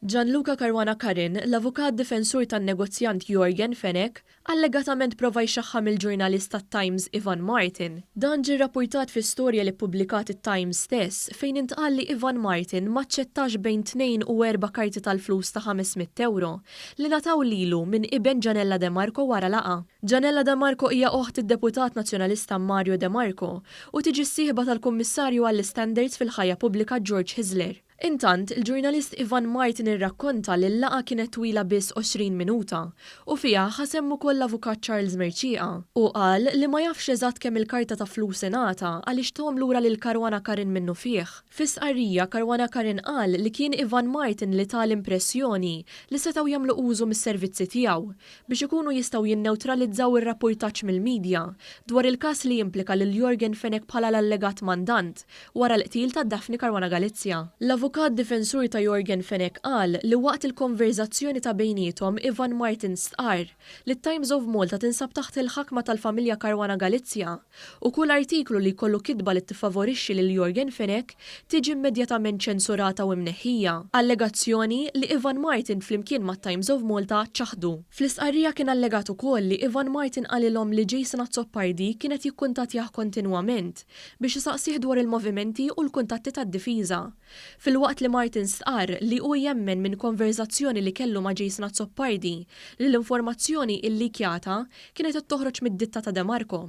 Gianluca Caruana Carin, l-avukat difensur tan-negozjant Yorgen Fenech, allegatament prova jxaħħam il-ġurnalist tat-Times Ivan Martin. Dan ġie rrappurtat fi storja li ppubblikat it-Times stess fejn intqal li Ivan Martin ma aċċettax bejn tnejn u erba' karti tal-flus ta' ħames mitt ewro li ngħataw lilu minn iben Gianella De Marco wara laqgħa. Janella De Marco hija oħt id-deputat Nazzjonalista Mario De Marco u tiġi s-sieħba tal-Kummissarju għall-Istandards fil-Ħajja Pubblika George Hyzler. Intant, il-ġurnalist Ivan Martin irrakkonta li l-laqgħa kienet twila biss 20 minuta u fiha ħa sehem ukoll l-Avukat Charles Mercieqa. Hu qal li ma jafx eżatt kemm il-karta ta' flus ingħata għaliex tahom lura lil Caruana Curran minnufih. Fi stqarrija, Caruana Curran qal li kien Ivan Martin li ta l-impressjoni li setgħu jagħmlu użu mis-servizzi tiegħu biex ikunu jistgħu jinnewtralizzaw ir-rappurtaġġ mill-midja dwar il-każ li jimplika lil Yorgen Fenech bħala l-allegat mandant wara l-qtil ta' Daphne Caruana Galizia. L-avukat difensur ta' Yorgen Fenech qal li waqt il-konverżazzjoni ta' bejniethom Ivan Martin stqarr li t-Times of Malta tinsab taħt il-ħakma tal-familja Caruana Galizia, u kull artiklu li jkollu kitba li tiffavorixxi lil Yorgen Fenech tiġi immedjatament ċensurata u imneħħija, allegazzjoni li Ivan Martin flimkien mat-Times of Malta ċaħdu. Fl-istqarrija kien allegat ukoll li Ivan Martin qalilhom li Jason Azzopardi kien qed jikkuntattjah kontinwament biex isaqsih dwar il-movimenti u l-kuntatti tad-difiża, Filwaqt li Martin stqarr li hu jemmen minn konverżazzjoni li kellu ma' Jason Azzopardi li l-informazzjoni illikjata kienet qed toħroġ mid-ditta ta' Demarco.